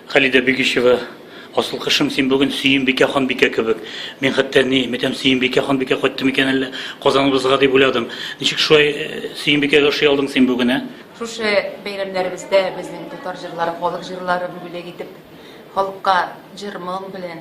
Халидә Бигишева Асыл кышым син бүген Сөембикә ханбикә кебек. Мин хәтта ни, мәтәм Сөембикә ханбикә кайттым икән әллә Казаныбызга дип уйладым. Ничек шулай э, Сөембикәгә ошый алдың син бүген, ә? Шушы бәйрәмнәребездә безнең татар җырлары, халык җырларын бүләк итеп, халыкка җыр-моң белән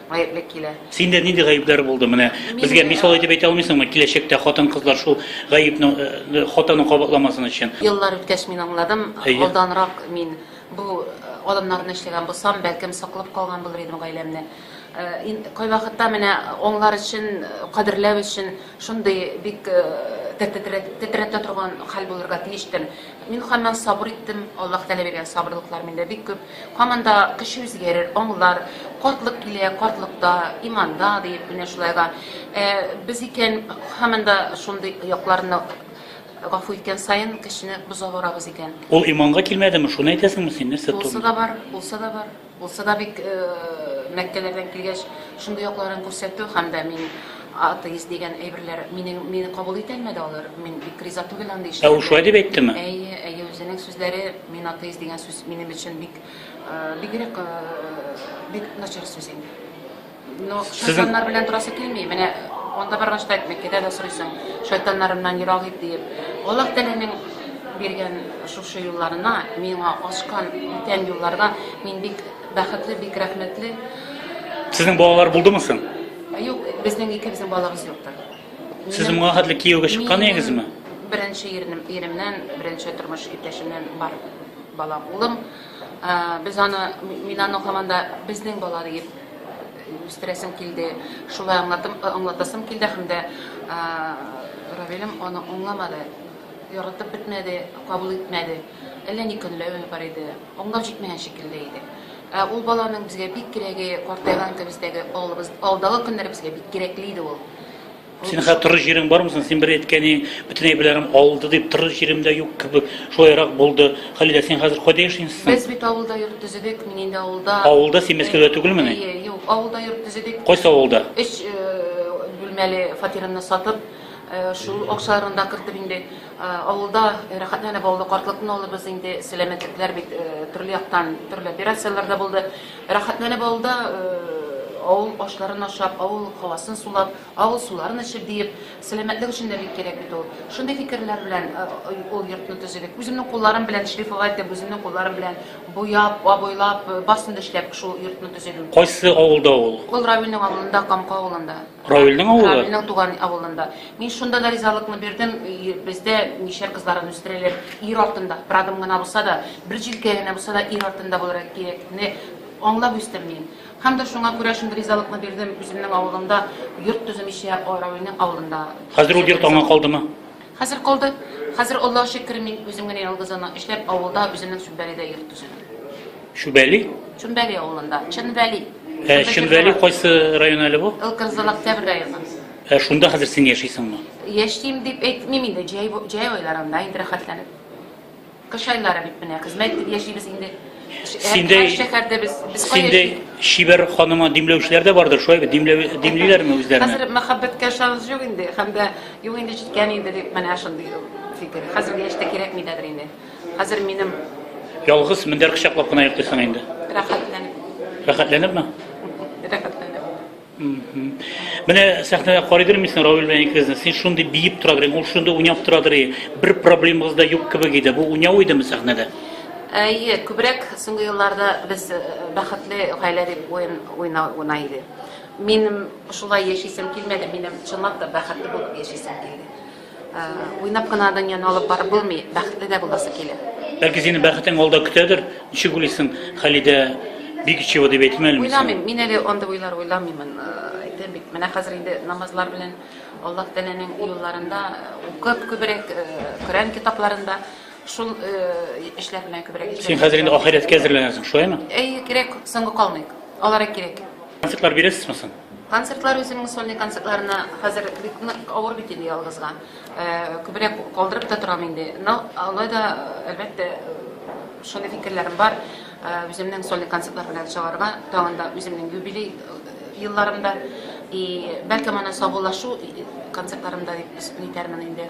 гаеплек килә. Синдә нинди гаепләр булды? Менә безгә мисал итеп әйтә алмыйсыңмы, киләчәктә хатын-кызлар шул гаепне э, хатаны кабатламасын өчен? Еллар үткәч мин аңладым, Әйе. алданрак мин бу э, адымнарны эшләгән булсам, бәлкем саклап калган булыр идем гаиләмне. Э, ин- Кайвакытта менә аңлар өчен, э, кадерләү өчен шундый бик э, тетрәтә тетрәтә торган хәл булырга тиештер. Мин һаман сабыр иттем, Аллаһ Тәгалә биргән сабырлыклар миндә бик күп. Һаманда кеше үзгәрер, аңлар, картлык килә, картлыкта, иманда, диеп, менә шулай да без икән, һаманда шундый якларны гафу иткән саен кешене боза барабыз икән. Ул иманга килмәдеме, шуны әйтәсеңме син, нәрсә ту? Булса да бар, булса да бар. Булса да бик Мәккәләрдән килгәч, шундый якларын күрсәтү һәм дә мин атеист дигән әйберләр мине мине кабул итә алмады алар. Мин бик риза түгел андый эшләргә. Ә ул шулай дип әйттеме? Әйе, әйе, үзенең сүзләре Мин атеист дигән сүз минем өчен бик бигрәк бик начар сүз инде. Но шайтаннар белән торасы килми. Менә анда барган штат Мәккәдә дә сорыйсың, шайтаннарымнан ерак ит диеп. Аллаһ Тәгаләнең биргән шушы юлларына, миңа ачкан бүтән юлларга мин бик бәхетле, бик рәхмәтле. Сезнең балалар булдымы соң? Юк, безнең икебезнең балабыз юктыр. Сез моңа хәтле кияүгә чыккан идегезме? Беренче ирнем, иремнән, беренче тормыш иптәшемнән бар балам, улым. Без аны, мин аны һаман да безнең бала дип үстерәсем килде. Шулай аңлатым, аңлатасым килде һәм дә Равилем аны аңламады, яратып бетмәде, кабул итмәде. Әллә ни көнләве бар иде, аңлап җитмәгән шикелле иде. Ә ул баланың безгә бик кирәге, картайган көбездәге алыбыз, алдагы көннәребезгә бик кирәкле иде ул. Ул Синең хәзер торыр җирең бармы соң? Син бер әйткәни, бөтенәйберләрем алды дип, торыр җирем дә юк кебек, шулайрак булды. Хәлилә, син хәзер кайда яшисең соң? Без бит авылда йорт төзедек, мин инде авылда. Авылда? Син Мәскәүдә түгелмени? Әйе, юк, авылда йорт төзедек. Кайсы авылда? Өч бүлмәле фатирымны сатып, шул акчаларны да кертеп инде. Авылда рәхәтләнеп алды, картлыкны алыбыз инде, сәламәтлекләр бит төрле яктан, төрле операцияләр дә булды. Рәхәтләнеп алды, авыл ашларын ашап, авыл һавасын сулап, авыл суларын эчеп, диеп, сәламәтлек өчен дә бик кирәк бит ул. Шундый фикерләр белән ул йортны төзедек. Үземнең кулларым белән шлифовать итеп, үземнең кулларым белән буяп, абойлап, барысын да эшләп, шул йортны төзедем. Кайсы авылда ул? Ул Равилнең авылында, Камка авылында. Равилнең авылы? Равилнең туган авылында. Мин шунда да ризалыкны бирдем. Бездә мишәр кызларын үстерәләр. Ир артында, бер адым гына булса да, бер җилкә генә булса да ир артында булырга кирәкне аңлап үстем мин. Һәм дә шуңа күрә шундый ризалыкны бирдем, үземнең авылымда йорт төземичә, Равилнең авылында. Хәзер ул йорт аңа калдымы? Хәзер калды. Хәзер, Аллага шөкер, мин үзем генә ялгыз ана эшләп, авылда, үземнең Чүмбәледә йорт төзедем. Чүбәли? Чүмбәли авылында. Чынбәли. Ә Чүмбәли кайсы район әле бу? Ылкынзал Октябрь районы. Ә шунда хәзер син яшисеңме? Яшим дип әйтмим инде, җәй, җәй айларында инде рәхәтләнеп. Кыш айлары бит менә, хезмәт итеп яшибез инде. Синдәй шәһәрдә без без Синдәй чибәр ханымы димләүчеләр дә бардыр, шулай бит? Димләү димлиләрме үзләрен? Хәзер мәхәббәткә шанс юк инде, һәм дә юк инде җиткән инде дип менә шундый фикер. Хәзерге яшьтә кирәкми дә инде. Хәзер минем Ялгыз мендәр кочаклап кына йөртесең инде. Рәхәтләнеп. Рәхәтләнепме? Менә сәхнәдә карыйдыр мисен Равил белән икегезне. Син шундый биеп тора идең, ул шундый уйнап тора иде. Бер проблемагыз да юк кебек иде. Бу уйнау идеме сәхнәдә? Әйе, күбрәк соңгы елларда без э, бәхетле гаилә дип уен уйнау уйна иде. Минем шулай яшисем килмәде, минем чынлап та бәхетле булып яшисем килде. Уйнап кына дөньяны алып барып булмый, бәхетле дә буласы килә. Бәлки синең бәхетең алда көтәдер. Ничек уйлыйсың, Халидә бик чего дип әйтмә әле. Уйламыйм, мин әле андый уйлар уйламыймын. Әйтәм бит, менә хәзер инде намазлар белән Аллаһ Тәгаләнең юлларында укып күбрәк Коръән китапларында шул эшләр белән күбрәк. Син хәзер инде ахирәткә әзерләнәсең, шулаймы? Әй, кирәк, соңга калмыйк. Алар кирәк. Концертлар бирәсезме соң? Концертлар үземнең сольный концертларына хәзер бик нык авыр бит инде ялгызга. Күбрәк калдырып та торам инде. Но алай да әлбәттә шундый фикерләрем бар. Үземнең сольный концертлар белән чыгарга, тагын да үземнең юбилей елларымда и бәлки моны саубуллашу концертларымда дип исем итәрмен инде.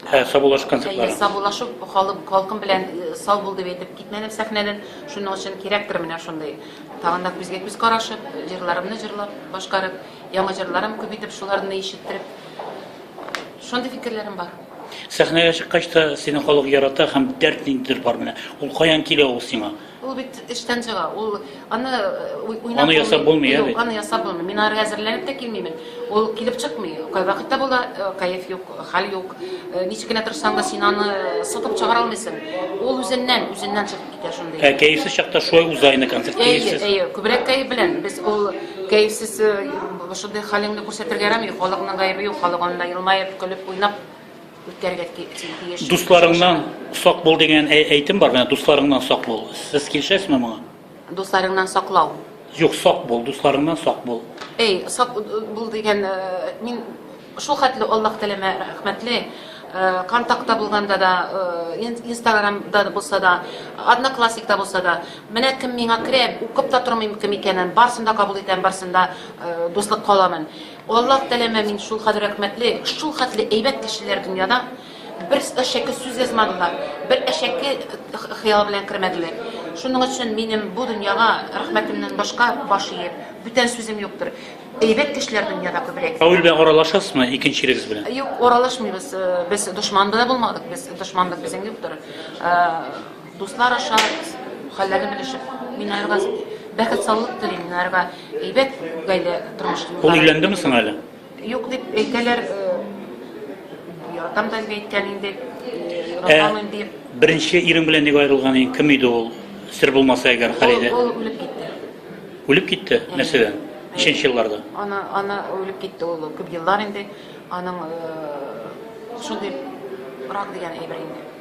Ә саубуллашып концертлар? Әйе, саубуллашып халык халкым белән э, сау бул дип әйтеп китмәдем сәхнәдән. Шуның өчен кирәктер менә шундый. Тагын да күзгә күз карашып, җырларымны җырлап, башкарып, яңа җырларым күп итеп шуларны ишеттереп. Шундый фикерләрем бар. Сәхнәгә чыккач та сине халык ярата һәм дәрт ниндидер бар менә. Ул каян килә ул сиңа? Ул бит эштән чыга, ул аны уйнап Аны ясап булмый, яме? Юк, аны ясап булмый. Мин ары әзерләнеп тә килмимен. Ул килеп чыкмый. Кай вакытта була, кайф юк, хәл юк. Ничек кенә тырышсаң да син аны сытып чыгара алмыйсың. Ул үзеннән, үзеннән чыгып китә шундый. Ә кәефсез чакта шулай уза инде концерт кәефсез. Әйе, әйе, күбрәк кәеф белән. Без ул кәефсез шундый хәлеңне күрсәтергә ярамый. Халыкның гаебе юк, халык анда елмаеп, көлеп, уйнап үткәрергә тиеш. Дусларыңнан сак бул дигән әйтем бар, менә дусларыңнан сак бул. Сез килешәсезме моңа? Дусларыңнан саклау. Юк, сак бул, дусларыңнан сак бул. Эй, сак бул дигән, э, мин шул хәтле Аллаһ теләмә рәхмәтле, э, контактта булганда да, э, инстаграмда булса да, одноклассникта булса да, менә кем миңа керә, укып та тормыйм кем икәнен, барсын да кабул итәм, барсын да дуслык каламын. Аллаһ теләмә мин шул хәл рәхмәтле, шул хәтле әйбәт кешеләр дөньяда бер әшәке сүз язмадылар, бер әшәке хыял белән кермәделәр. Шуның өчен минем бу дөньяга рәхмәтемнән башка баш иеп, бүтән сүзем юктыр. Әйбәт кешеләр дөньяда күбрәк. Равил белән аралашасызмы икенчелегез белән? Юк, аралашмыйбыз. Без дошман да булмадык, без дошманлык безнең юктыр. Дуслар аша хәлләрне белешеп, мин арга бәхет саулык телим, мин арга әйбәт гаилә тормыш юллары. Ул өйләндеме соң әле? Юк дип әйтәләр. Яратам да әйткән инде. Яратам инде. Беренче ирең белән ник аерылган иң кем иде ул? Сер булмаса әгәр Халидә. Ул үлеп китте. Үлеп китте? Нәрсәдән? Ничәнче елларда? Ана ана үлеп китте ул күп еллар инде. Аның шундый рак дигән әйбер инде.